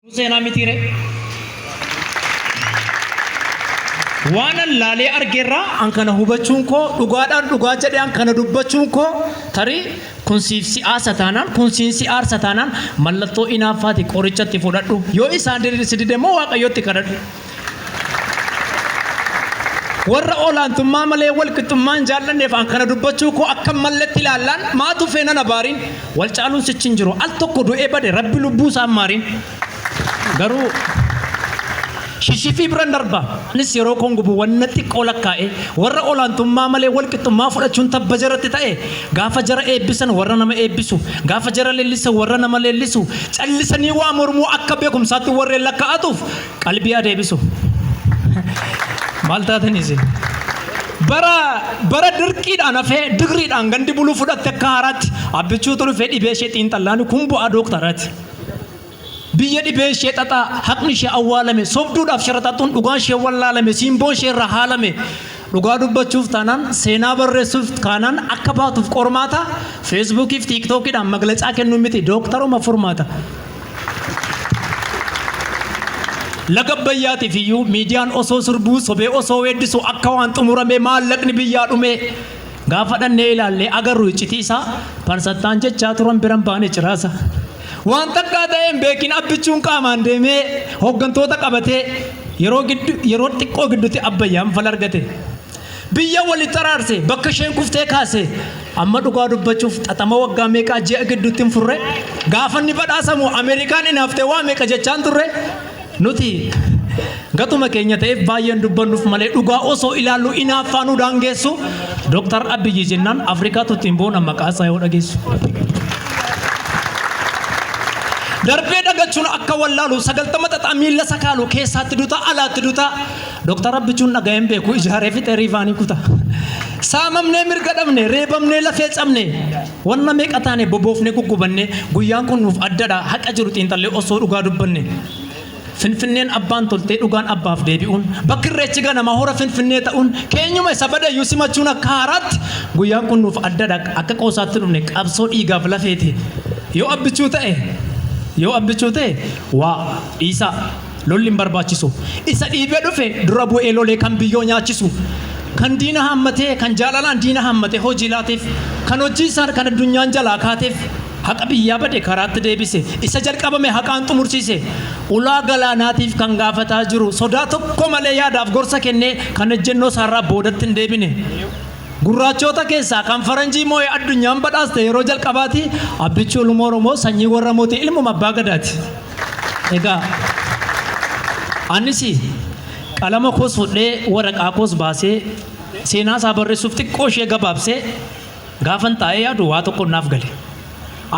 Kun seenaa mitiiree? Waanan laalee argeerraa an kana hubachuun koo dhugaadhaan dhugaa jedhee an kana dubbachuun koo tarii kun siif si aarsa taanaan kun siin si aarsa taanaan mallattoo inaaffaati qorichatti fudhadhu yoo isaan si dide immoo waaqayyotti kadhadhu. Warra olaantummaa malee wal qixxummaa hin jaallanneef an kana dubbachuu koo akka hin malletti ilaallaan maa tufee nan abaariin wal caaluun sichi hin jiru al tokko du'ee bade rabbi lubbuu isaa hin maariin garuu shishifii biran darba anis yeroo koon gubu wanna xiqqoo lakkaa'ee warra olaantummaa malee wal qixxummaa fudhachuun tabba jaratti ta'e gaafa jara eebbisan warra nama eebbisu gaafa jara leellisan warra nama leellisu callisanii waa mormuu akka beekumsaatti warreen lakkaa'atuuf qalbii haa deebisu. Maal taatan isin? Bara bara dirqiidhaan hafee digriidhaan gandi buluu fudhatte akka haaraatti abbichuutu dhufee dhibee ishee xiinxallaan kun bu'aa dooktarati. Biyya dhibee ishee xaxaa haqni ishee awwaalame sobduudhaaf sharaxaxuun dhugaan ishee wallaalame siimboon ishee irraa haalame Dhugaa dubbachuuf taanaan seenaa barreessuuf kaanaan akka baatuuf qormaata feesbuukii fi tiiktookiidhaan maglacaa kennuu miti dooktaruma furmaata. Laga Abbayyaatiif iyyuu miidiyaan osoo sirbuu sobee osoo weeddisu akka waan xumuramee maallaqni biyyaa dhumee gaafa dhannee ilaallee agarru iccitii isaa parsattaan jechaa turan biran baane ciraasa. Waan takkaa ta'ee hin beekin abbichuun qaamaan deemee hooggantoota qabatee yeroo giddu yeroo xiqqoo gidduutti abbayyaan fala argate. Biyya walitti araarse bakka isheen kuftee kaase amma dhugaa dubbachuuf xaxama waggaa meeqaa ji'a gidduutti hin furre gaafanni badhaasamu Ameerikaan inaaftee waa meeqa jechaan turre Nuti gatuma keenya ta'eef baay'een dubbannuuf malee dhugaa osoo ilaallu inaaffaa nu daangeessu Dooktar Abiyyi jennaan Afrikaatu ittiin boona maqaa isaa yoo dhageessu. Darbee dhagachuun akka wallaalu sagaltama xaxaa miila sakaalu keessaatti duta alaatti duta Dooktar Abbichuun dhaga'een beeku ijaaree fixee riifaanii kuta. Saamamnee mirga dhabne reebamnee lafee cabne Wanna meeqa taane boboofnee guggubanne guyyaan kun nuuf addadha haqa jiru xiinxallee osoo dhugaa dubbanne. Finfinneen abbaan toltee dhugaan abbaaf deebi'uun bakki irreechi ganamaa hora finfinnee ta'uun keenyuma isa badeyyuu simachuun akka haaraatti guyyaan kun nuuf addadha akka qoosaatti dhufne qabsoo dhiigaaf lafeeti yoo abbichuu ta'e yoo abbichuu ta'e waa dhiisaa. Lolli hin barbaachisu. Isa dhiibee dhufe dura bu'ee lolee kan biyyoo nyaachisu. Kan diina haammatee, kan jaalalaan diina haammatee hojii laateef, kan hojii isaan kan addunyaan jalaa kaateef, haqa biyyaa bade karaatti deebise, isa jalqabame haqaan xumursiise, ulaa galaanaatiif kan gaafataa jiru, sodaa tokko malee yaadaaf gorsa kennee kan ejjennoo isaarraa boodatti hin deebine. Gurraachoota keessaa kan faranjii moo'ee addunyaan badhaaste yeroo jalqabaati, Abbichuu ilmoo Oromoo sanyii warra mootii ilmuma abbaa gadaati. Egaa anis qalama koos fudhee waraqaa koos baasee seenaa isaa barreessuuf xiqqoo ishee gabaabsee gaafan taa'ee yaadu waa tokko naaf gale.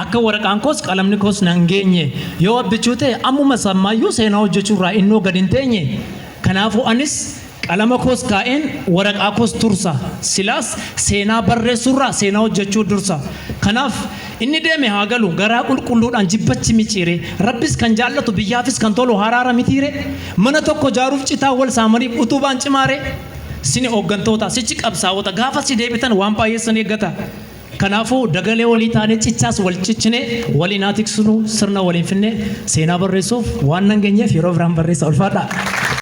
Akka waraqaan koos qalamni koos nan geenye yoo abbichuu ta'e ammuma sammaayyuu seenaa hojjechuu irraa innoo gad hin teenye. Kanaafuu anis Qalama koos kaa'een waraqaa koos tursa. Silaas seenaa barreessuurraa seenaa hojjechuu dursa. Kanaaf, inni deeme haa galu garaa qulqulluudhaan jibbachi micciiree. Rabbis kan jaallatu biyyaafis kan tolu haraara mitiiree? Mana tokko ijaaruuf citaa wal saamaniif utubaan cimaaree? Sini hooggantoota, sichi qabsaa'ota gaafa si deebitan waan baay'ee isin eeggata. Kanaafuu, dagalee walii taanee cichaas wal cichinee waliin haa tiksinuu sirna waliin finnee seenaa barreessuuf waan nan geenyeef yeroo biraan barreessa. Ulfaadhaa!